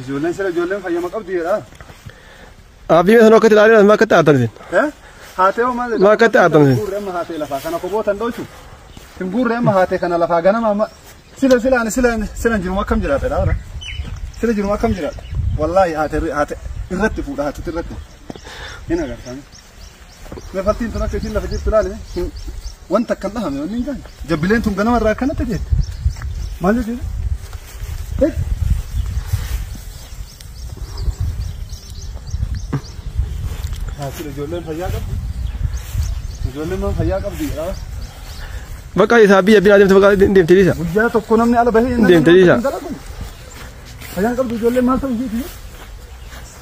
Ijoolleen sila ijoolleen fayyama qabdi jedha. Abdii meeshaan akkatti ilaalee maa akkatti aartan isin? Eh? Haatee hoo maal jedha? Maa akkatti aartan isin? Guurree amma haatee lafaa kana koboo tan dhoolchu. Hin guurree amma haatee kana lafaa ganama amma. Sila sila ani sila sila jiruma akkam jiraata dha bara. Sila jiruma akkam jiraata. Wallaahi haatee haatee irratti fuudha haatee irratti. Hin agartan. Mefattiin tun akka ishiin lafa jirtu ilaali. Wanta akkan dhahame wanni hin gaane. Jabbileen tun ganama irraa akkanatti jeetti. Maal jechuudha? Haasira ijoolleen fayyaa qabdi. Ijoolleen maan fayyaa qabdi jedhaa. Bakka isaa biyya biyya deemte bakka deemte dhiisa. Guyyaa tokko namni ala bahee Deemte dhiisa. Fayyaa qabdi ijoolleen maal ta'u ishiiti?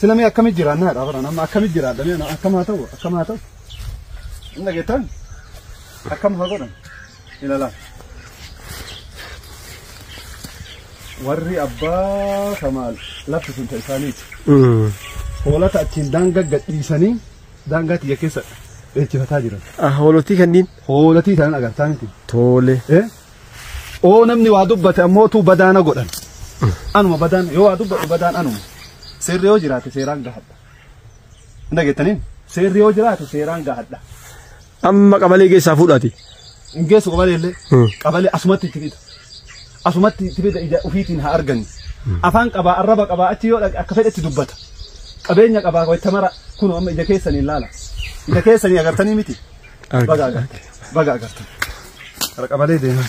Sila mee akkamitti jiraannaa dha bara nama akkamitti jiraadha mee nama akkam haa ta'u akkam haa ta'u. Hin dhageettan akkam haa godhan ilaalaa. Warri abbaa kamaal lafti sun ta'e isaaniiti. Hoolata achiin daangaa gadhiisanii daangaa tiyya keessa dheechifataa jiran. Hoolotii kanniin Hoolatii isaan agartaa miti. tole. Eh? oo namni waa dubbate ammootuu badaana godhan anuma badaan yoo waa dubbadhu badaan anuma seerri yoo jiraate seeraan gahadha hin dhageettaniin seerri yoo jiraate seeraan gahadha Amma qabalee keessaa fuudhaati. hin geessu qabalee illee Hmm. qabalee asumatti itti fida asumatti itti fida ija ofiitiin haa argani afaan qabaa arraba qabaa achi yoo dhaqe akka fedhetti dubbata qabeenya qabaa wayta mara kun amma ija keessanii ilaala ija keessanii agartanii miti baga agartan baga agartan Kara qabalee deemaa.